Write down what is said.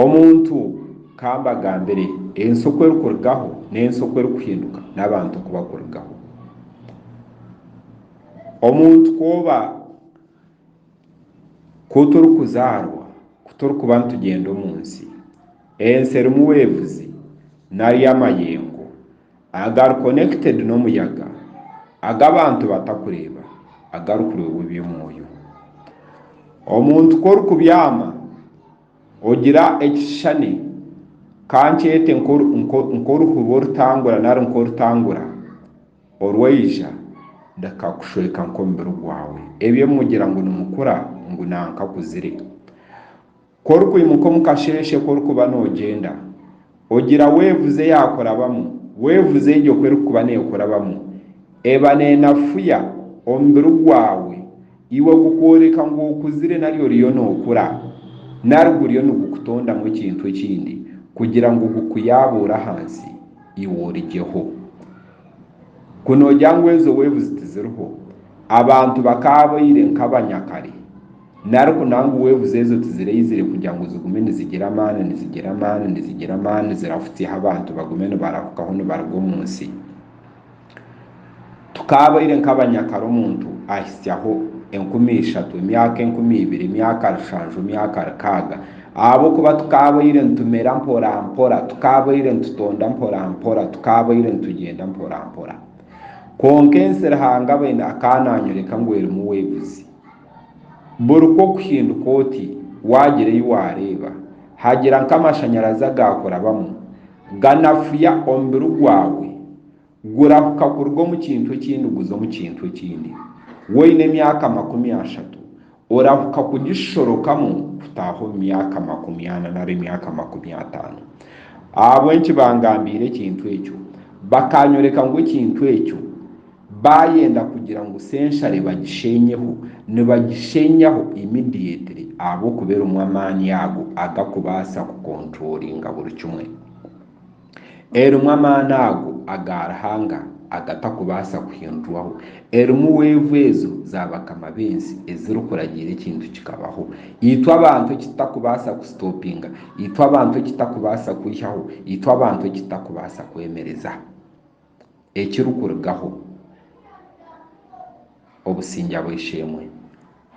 Omuntu ka mbagambire, ensi oku erikurugaho n'ensi oku erikuhinduka, n'abantu oku bakurugaho. Omuntu ku oba, ku turikuzaarwa, ku turikuba nitugyenda omu nsi, ensi erimu weevuzi nari amayengo. agari connected n'omuyaga, agu abantu batakureeba, agarikureebwa eby'omwoyo. Omuntu ku orikubyama, ogira ekishushani, ka nkyete nk'oruhuru orutangura nari nk'orutangura, orwaija bikakushweka nk'omubiri gwawe. Ebyo mugira ngu nimukura, ngu nankakuzire. Ku orikwimuka omu kasheeshe ku orikuba noogyenda, ogira weevu ze yaakurabamu, weevu ze egyo ku erikuba neekurabamu eba neenafuya omubiri gwawe, iwe gukworeka ngu okuzire nari oriyo nookura, nari guriyo nigukutondamu ekintu ekindi kugira ngu gukuyaabuure ahansi iwe origyeho. Ku noogira ngu ezo weevu zi tiziriho, abantu bakaabaire nk'abanyakare. Nari ku nangwa weebuze ezo tizireizire kugira ngu zigume nizigira amaani, nizigira amaani, nizigira amaani zirahutsyeho abantu bagume nibarahukaho nibaruga omu nsi. Tukaabaire nk'abanyakare omuntu ahitsyaho enkumi ishatu, emyaka enkumi ibiri, emyaka rushanju, emyaka rukaaga. Ahabw'okuba tukaabaire nitumera mporampora, tukaabaire nitutonda mporampora, tukaabaire nitugyenda mporampora. Kwonka ensi Ruhanga abaine akaba naanyoreka ngu erimu weebuzi. Buri ku okuhinduka oti, waagira ei waareeba, hagira nk'amashanyarazi agaakurabamu, ganafuya omubiri gwawe gurahuka kuruga omu kintu ekindi guza omu kintu ekindi. Woine emyaka makumi ashatu, orahuka kugishorokamu kutaaha omu myaka makumi ana nari emyaka makumi ataano. Ahabw'enki baangambiire ekintu ekyo? Bakaanyoreka ngu ekintu ekyo. Baayenda kugira ngu senshare bagisheenyeho, nibagisheenyaho immediately ahabw'okuba erimu amaani ago agakubaasa kukonturolinga buri kimwe. Erimu amaani ago aga Ruhanga agatakubaasa kuhindurwaho. Erimu weevu ezo za bakama b'ensi ezirikuragiira ekintu kikabaho. Itwe abantu eki tutakubaasa kusitopinga, itwe abantu eki tutakubaasa kwihaho, itwe abantu eki tutakubaasa kwemereza. ekirikurugaho obusingye bw'eishe-emwe.